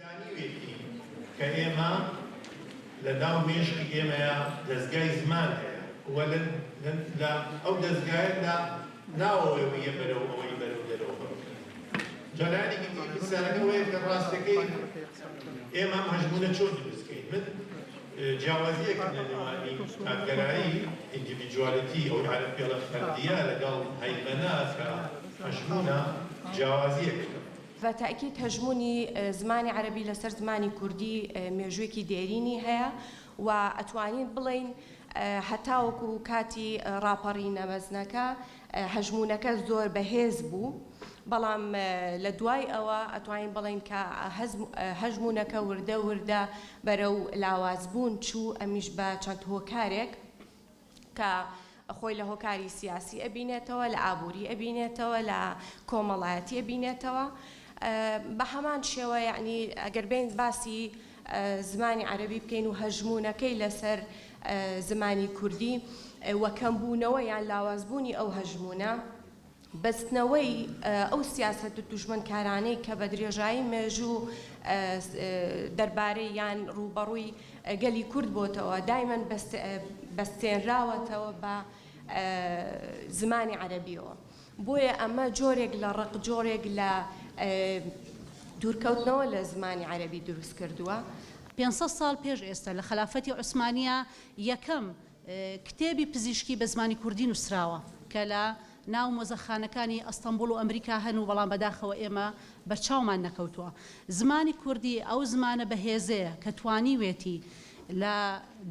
زانیوێتی کە ئێمە لە ناو مێشکی ئێمەیا دەزگای زمان هەیە و لە ئەو دەزگایە لە ناوەوەی ویە بەرەو ئەوەی بەرەو دەرەوە بڕوخێت. جا لایەنێکی تری پرسیارەکە ئەوەیە کە ڕاستەکەی ئێمە ئەم هەژموونە چۆن دروست کەین؟ من جیاوازییەکم لە نێوانی تاکگەرایی، Individuality، ئەو عەرەبپێڵە فەردییە لەگەڵ هەیمەنە کە هەژموونە، جیاوازییەکم. بە تەئکید هەژموونی زمانی عەرەبی لەسەر زمانی کوردی مێژووێکی دێرینی هەیە و ئەتوانین بڵێین هەتاوەکو کاتی ڕاپەڕینە مەزنەکە هەژموونەکە زۆر بەهێز بوو بەڵام لە دوای ئەوە ئەتوانین بڵێین کە هەژموونەکە وردە وردە بەرەو لاوازبوون چوو ئەمیش بە چەند هۆکارێک کە خۆی لە هۆکاری سیاسی ئەبینێتەوە لە ئابووری ئەبینێتەوە لە کۆمەڵایەتی ئەبینێتەوە بە هەمان شێوە یعنی ئەگەر بین باسی زمانی عەربی بکەین و هەژمونونەکەی لەسەر زمانی کوردی وەکەم بوونەوە یان لاوازبوونی ئەو هەژمونە بەستنەوەی ئەو سیاسەت دوژمنکارانەی کە بە درێژایی مێژوو دەربارەی یان ڕووبەڕووی گەلی کورد بۆتەوە، دایمەن بەستێنراوەتەوە بە زمانی عەرەبییەوە. بۆیە ئەمە جۆرێک لە ڕق، جۆرێک لە دوورکەوتنەوە لە زمانی عەرەبی دروست کردووە. پێنج سەد ساڵ پێش ئێستا لە خەلافەتی عوسمانییە یەکەم کتێبی پزیشکی بە زمانی کوردی نووسراوە کە لە ناو مۆزەخانەکانی ئەستەنبوڵ و ئەمریکا هەن و بەڵام بەداخەوە ئێمە بەرچاومان نەکەوتووە. زمانی کوردی ئەو زمانە بەهێزەیە کە توانیوێتی لە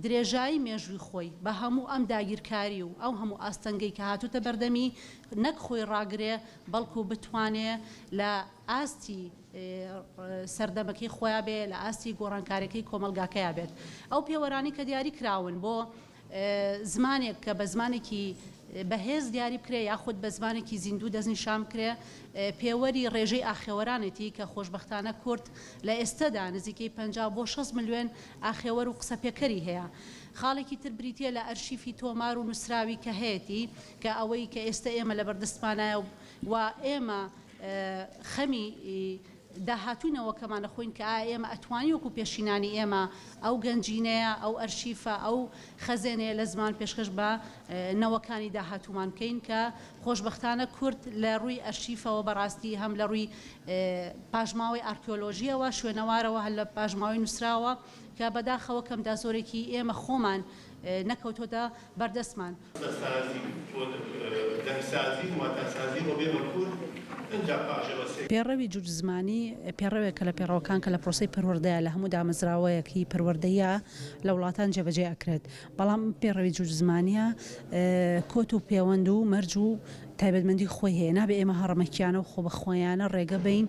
درێژایی مێژووی خۆی بە هەموو ئەم داگیرکاری و ئەو هەموو ئاستەنگەی کە هاتووتە بەردەمی نەک خۆی ڕاگرێ بەڵکوو بتوانێ لە ئاستی سەردەمەکەی خۆیا بێ لە ئاستی گۆڕانکاریەکەی کۆمەڵگاکەیا بێت ئەو پێوەرانەی کە دیاری کراون بۆ زمانێک کە بە زمانێکی بەهێز دیاری بکرێ یاخود بە زمانێکی زیندوو دەستنیشان بکرێ پێوەری ڕێژەی ئاخێوەرانێتی کە خۆشبەختانە کورد لە ئێستەدا نزیکەی پەنجا بۆ شەست ملیۆن ئاخێوەر و قسەپێکەری هەیە خاڵێکی تر بریتیە لە ئەرشیفی تۆمار و نوسراوی کە هەیەتی کە ئەوەی کە ئێستە ئێمە لەبەردەستمانایە و ئێمە خەمی داهاتووی نەوەکەمانە خۆین کە ئایا ئێمە ئەتوانین وەکو پێشینانی ئێمە ئەو گەنجینەیە، ئەو ئەرشیفە، ئەو خەزێنەیە لە زمان پێشکەش بە نەوەکانی داهاتوومان بکەین کە خۆشبەختانە کورد لە ڕووی ئەرشیفەوە بەڕاستی هەم لە ڕووی پاشماوەی ئارکیۆلۆژییەوە، شوێنەوارەوە، هەر لە پاشماوەی نووسراوە، کە بەداخەوە کەمدا زۆرێکی ئێمە خۆمان نەکەوتۆتە بەردەستمان. سازی و دەنگسازی و واتاسازی بۆ بێ مەکوور ئنجا پاش ئەوە سێ. پێڕەوی جووت زمانی پێڕەوێکە لە پێڕەوەکان کە لە پرۆسەی پەروەردەیە لە هەموو دامەزراوەیەک هی پەروەردەییە لە وڵاتان جێبەجێ ئەکرێت بەڵام ئەم پێڕەوی جووت زمانییە کۆت و پێوەند و مەرج و تایبەتمەندی خۆی هەیە، نابێ ئێمە هەڕەمەکیانە و خۆبەخۆیانە ڕێگە بەین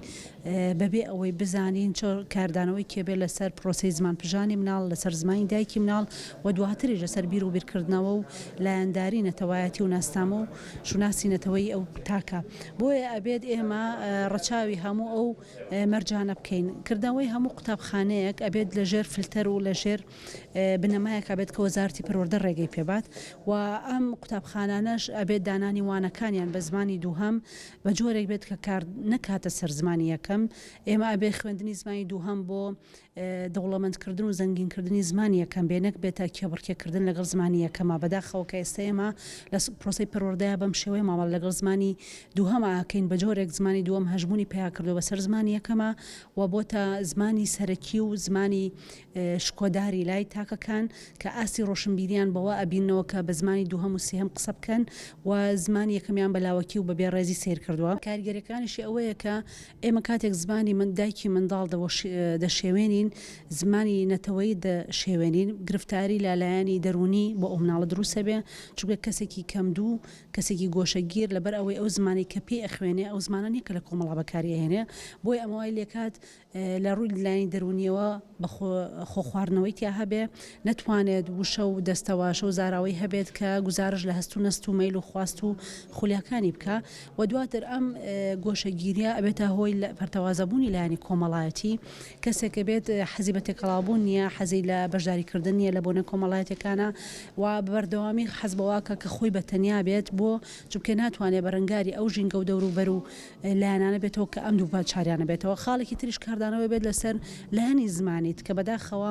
بەبێ ئەوەی بزانین چ کاردانەوەیکێ بێ لەسەر پرۆسەی زمانپژانی مناڵ، لەسەر زمانی دایکی مناڵ و دواتریش لەسەر بیر و بیرکردنەوە و لایەنداری نەتەوایەتی و ناسنامە و شوناسی نەتەوەیی ئەو تاکە. بۆیە ئەبێت ئێمە ڕەچاوی هەموو ئەو مەرجانە بکەین. کردنەوەی هەموو قوتابخانەیەک ئەبێت لەژێر فلتەر و لەژێر. بنەمایەک ئەبێت کە وەزارەتی پەروەردە ڕێگەی پێبات و ئەم قوتابخانانەش ئەبێت دانانی وانەکانیان بە زمانی دووهەم بە جۆرێک بێت کە کار نەکاتە سەر زمانی یەکەم ئێمە ئەبێ خوێندنی زمانی دووهەم بۆ دەوڵەمەندکردن و زەنگینکردنی زمانی یەکەم بێ نەک بێتە کێبڕکێکردن لەگەڵ زمانی یەکەمە بەداخەوە کە ئێستا ئێمە لە پرۆسی پەروەردەیە بەم شێوەیە مامەڵە لەگەڵ زمانی دووهەم ئاکەین بە جۆرێک زمانی دووەم هەژمونی پیا کردو بەسەر زمانی یەکەمە و بۆتە زمانی سەرەکی و زمانی شکۆداری لای تاکەکان کە ئاستی ڕۆشنبیریان بەوە ئەبیننەوە کە بە زمانی دووهەم و سێهەم قسە بکەن و زمانی یەکەمیان بە لاوەکی و بە بێ ڕێزی سەیر کردووە. کاریگەریەکانیشی ئەوەیە کە ئێمە کاتێک زمانی دایکی منداڵ دەشێوێنین، زمانی نەتەوەیی دەشێوێنین، گرفتاری لە لایەنی دەروونی بۆ ئەو مناڵە دروست ئەبێ، چونکە کەسێکی کەمدوو، کەسێکی گۆشەگیر لەبەر ئەوەی ئەو زمانەی کە پێی ئەخوێنێ ئەو زمانە نیە کە لە کۆمەڵا بەکاری ئەهێنێ، بۆیە ئەمە وای لێکات لە ڕووی لایەنی دەروونییەوە بە خۆ خۆ خواردنەوەی تیا هەبێ، نەتوانێت وشە و دەستەواشە و زاراوەی هەبێت کە گوزارش لە هەست و نەست و مەیل و خواست و خولیاکانی بکا و دواتر ئەم گۆشەگیرییە ئەبێتە هۆی پەرتەوازەبوونی لایەنی کۆمەڵایەتی، کەسێک ئەبێت حەزی بە تێکەڵاوبوون نییە، حەزی لە بەشداری کردن نییە لە بۆنە کۆمەڵایەتییەکانا و بە بەردەوامی حەز بەوە ئەکا کە خۆی بە تەنیا بێت، بۆ؟ چونکە ناتوانێ بەرەنگاری ئەو ژینگە و دەوروبەر و لایەنانە بێتەوە کە ئەم دوو پەرچاریانە بێتەوە خاڵێکی تریش کاردانەوەی بێت لەسەر لایەنی زمانیت کە بەداخەوە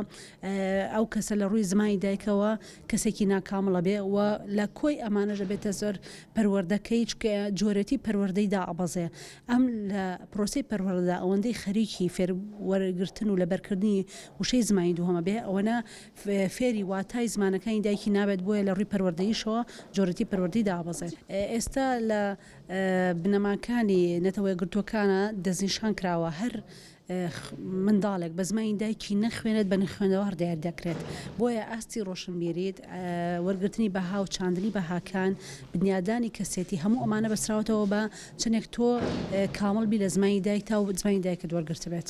ئەو کەسە لە ڕووی زمانی دایکەوە کەسێکی ناکامڵە بێ و لە کۆی ئەمانەژە بێتە زۆر پەروەردەکەی چکە جۆرەتی پەروەردەی دائەبەزێ ئەم لە پرۆسی پەروەردەدا ئەوەندەی خەریکی فێر وەرگرتن و لەبەرکردنی وشەی زمانی دووهەمە بێ ئەوەنە فێری واتای زمانەکانی دایکی نابێت بۆیە لە ڕووی پەروەردەیشەوە جۆرەتی پەروەردەی دابەزێ ئێستا لە بنەماکانی نەتەوەیەکگرتووەکانە دەستنیشان کراوە هەر منداڵێک بە زمانی دایکی نەخوێنێت بە نخوێنەوار دیار دەکرێت بۆیە ئاستی ڕۆشنبیریت وەرگرتنی بەها و چاندنی بەهاکان بنیادانی کەسێتی هەموو ئەمانە بەسراوەتەوە بە چنێک تۆ کامڵ بی لە زمانی دایکتا و زمانی دایکت وەرگرتبێت.